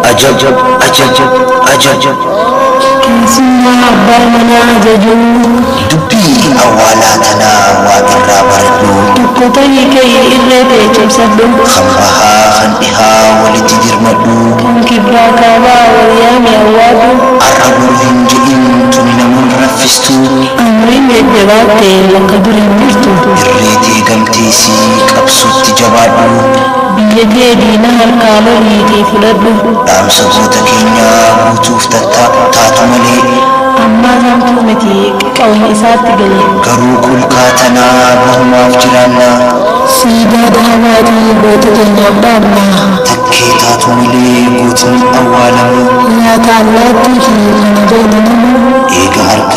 Ajab, ajab, ajab. Keessummaa abbaa manaa ajajuu. Dubbii awwaalaa tanaa waa irraa baradhu. Tokko tahi ka'i irree tee cabsadhu. Kan bahaa kan dhihaa walitti dirmadhu. Kan kibbaa kaabaa wal yaami awwaadhu. Arra boru hin jedhin tuni naman raffistu. Umriin jajjabaadhe bakka dur hin jirtu. Irree tee galtee sii qabsootti jabaadhu. Biyya tee diina harkaa loliitii fudhadhu. Dhaamsa goota keenyaa guutuuf taatu malee. Ammaa tantuu miti qawween isaatti galee. Garuu kulkaa tanaa bahumaaf jiraannaa. Siidaa dhaabaatii goota keenyaaf dhaabnaa. Takkee taatu malee gootni awwaalamuu. Nyaata allaattiiti kana beeyna namuu. Eega harka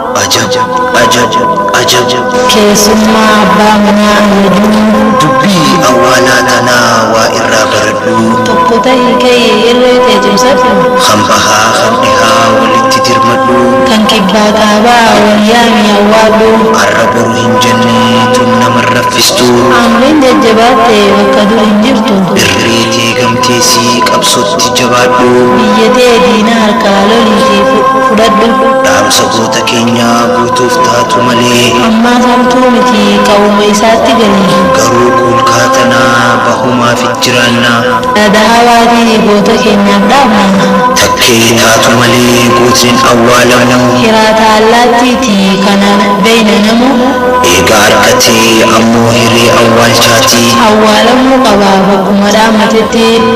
Ajab! Ajab! Ajab! Keessummaa abbaa manaa Najuu. Dubbii awwaalaa tanaa waa irraa baradhuu. Tokko tahi ka'i irree tee cimsadhu. Kan bahaa kan dhihaa walitti dirmadhuu. Kan kibbaa kaabaa wal yaamii awwaadhuu. Arra boru hin jennee tun nama hin raffistuu. Amriin jajjabaatte bakka dur hin jirtu. Irree tee gamteesii qabsoo tana. Ati jabaadhu. Biyya tee diina harkaa lolii fi fudhadhu. Dhaamsa goota keenyaa guutuuf taatu malee. Ammaaf hamtuu miti qawwuma isaatti gali. Garuu kuulkaa tana bahumaaf jiraanna. Yaada hawaati goota keenyaaf dhaamna. Takkee taatu malee gootni hin awwaalamu. Hiraata allaattiiti kana beeyna namuu. Eega arkatee ammoo hiree awwaalchaati. Awwaalamuu qaba bakkuma dhaamatetti. Biyyi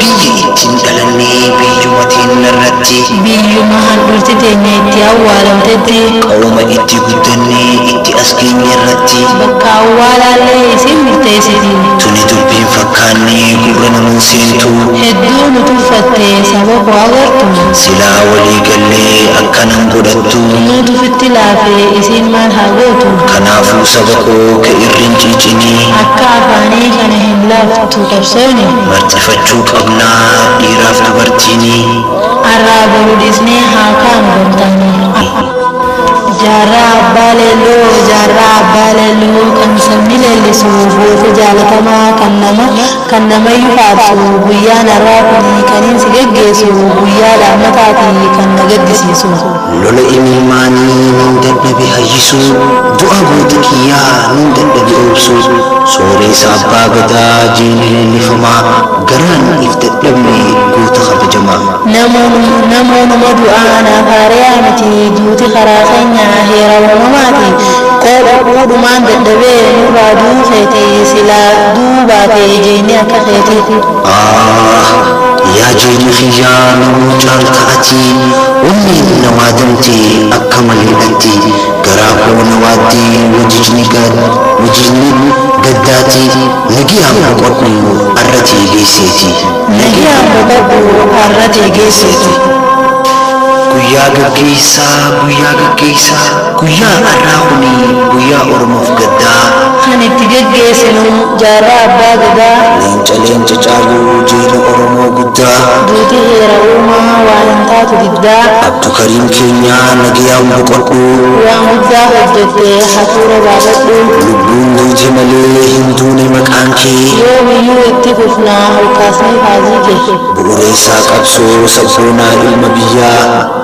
ittiin dhalanne biyyuma teenna irratti. Biyyuma handhuurti teenya itti awwaalamtetti. Qarooma itti guddanne itti as geenye irratti. Bakka awwaalaallee isiin murteessiti. Tuni dubbiin fakkaanne gurra namaa seentu. Hedduu nu tuffatte saba koo agartu. Silaa walii gallee akkana hin godhattu. Nuutu ufitti laafe isiin maal haa gootu. Kanaafuu saba koo ka irri hin ciicinii. Akka afaanii kana hin laaftu. tu qabsoofne. Marxifachuu qabnaa dhiiraaf dubartiinii. Arraa boru dhiisnee haa kaanu gamtaanii. Jaarraa Abbaa Leelloo Jaarraa Abbaa Leelloo kan sabni leellisu goota jaalatamaa kan nama kan namayyu faarsu guyyaan arraa kuni kaniin si geggeessu guyyaa dhaammataati kan na gaddisiisu. Lola imimmaanii nin dadhabe hayyisuu Du'a goota kiyyaa nin dadhabe obsuu Sooreessa Abbaa Gadaa jeenee leellifamaa Garaan if dadhabne goota kabajamaa. Namuu numa du'aa naaf haareyaa miti Duuti karaa keenya heera uumamaati Qoodhadhuu dhumaan dadhabe nurraa du'uu keeti Silaa du'uu baate jeeni akka keeti. Aah! Yaa jeenya kiyyaa namuu caalta ati Onni na waadamte akka malee dhatti garaa koo na waadde wajijni wajijni gaddaati nagiyaa boqodhu arra tee geesseeti. Nagiyaa boqodhu arra tee geesseeti. Guyyaa gaggeessaa guyyaa gaggeessaa guyyaa arraa kuni guyyaa oromoof gaddaa. Kan itti geggeesinu jaarraa abbaa gadaa. Muca leenca caalu jeena oromoo guddaa. Duuti heera uumaa waa hin taatu diddaa. Abdukariim keenya nagayaan boqodhu. Waan guddaa hojjette hafuura baafadhu. Lubbuun duute malee hin duune maqaan kee. Yoomiyyuu itti fufna olkaasnee faajii kee. Bu'ureessaa qabsoo sabboonaa ilma biyyaa.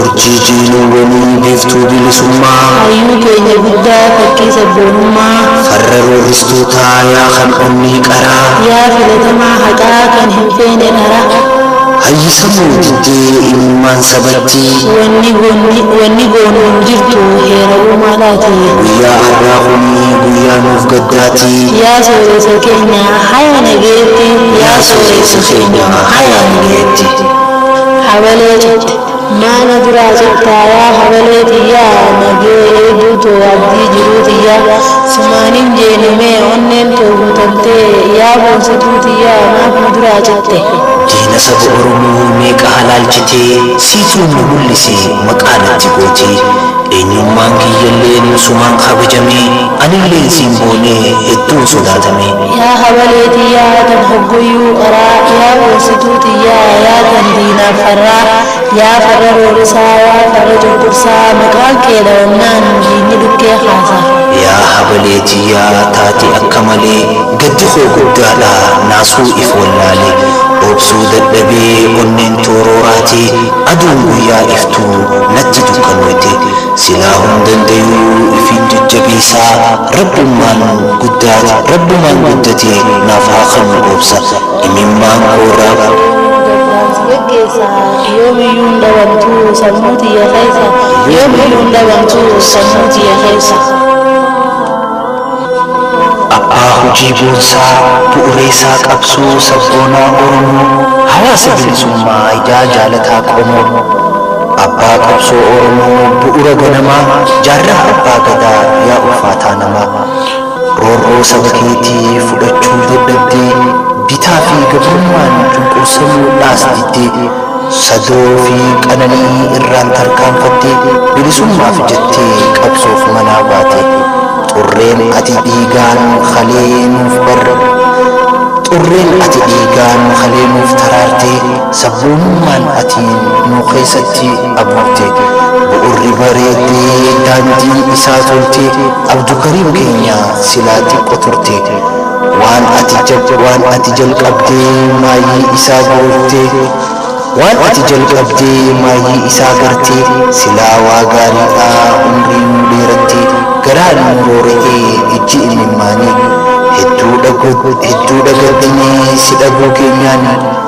Urjii jiiniiwwanii biiftuu bilisummaa. Hayyuu keenya guddaa fakkii sabboonummaa. Farra roorristootaa yaa kan onnee qaraa. Yaa filatamaa haqaa kan hin feene dhara. Hayyi sammuu diddee imimmaan sabattii. Wanni goonu hin jirtu heera uumaadhaatii. Guyyaa arraa kuni guyyaa nuuf gaddaatii. Yaa sooreessa keenya haya nageetti. Yaa sooreessa keenya haya nageetti. Habalee cite. Maa na duraa cittaa yaa habalee tiyyaa nagee eeduu too abdii jiruu tiyyaa sumaa nin jeene mee onneen too guutattee yaa boonsituu tiyyaa maaf na duraa citte. Diina saba oromoo meeqa halaalchitee siituu na mul'isi maqaa natti gootee eenyummaan kiyyalleen sumaan kabajamee anilleen siin boonee hedduun sodaatamee. Yaa hawalee tiyyaa tan hogguyyuu qaraa Yaa gorsituu tiyyaa yaa tan diinaaf farraa Yaa farra roorisaa yaa farra cunqursaa Maqaan kee dhawamnaan diinni dhukkee kaasa. Yaa hawalee tiyyaa taati akka malee Gaddi koo guddaadha naasuu if wallaale Obsuu dadhabee onneen too rooraate Aduun guyyaa iftuu natti dukkanooyte Silaa hun dandayuu ifiin jajjabeeysaa Rabbummaan guddaati rabbumaan guddatee naaf haa kannu obsa imimmaan koorraa. Gargaarsi gaggeessa yoomiyyuu hin dhabamtu sammuu tiyya keessa yoomiyyuu hin dhabamtu sammuu tiyya keessa. Abbaa hojii boonsaa bu'ureessaa qabsoo sabboonaa Oromoo hawaasa bilisummaa idaa jaalataa qomoo Abbaa qabsoo Oromoo bu'ura ganamaa jaarraa abbaa gadaa yaa ulfaataa namaa. Amma roorroo saba keetii fudhachuu dadhabdee bitaa fi gabrummaan cunqursamuu dhaas diddee sadoo fi qananii irraan tarkaanfattee bilisummaaf jettee qabsoof manaa baate xurreen ati dhiigaan kalee nuuf barre xurreen ati dhiigaan kalee nuuf taraartee Sabboonummaan ati nuu keessatti abuurte bu'urri bareeddee daandii isaa toltee Abdukariim keenya silaa xiqqo turte waan ati waan ati jalqabdee maayyii isaa goortee waan ati jalqabdee maayyii isaa gartee silaa waa gaariidha umrii nuu dheerattee garaa nuu roora'ee ijji immimmaanii hedduudha hedduudha gaddinee si dhabuu keenyaan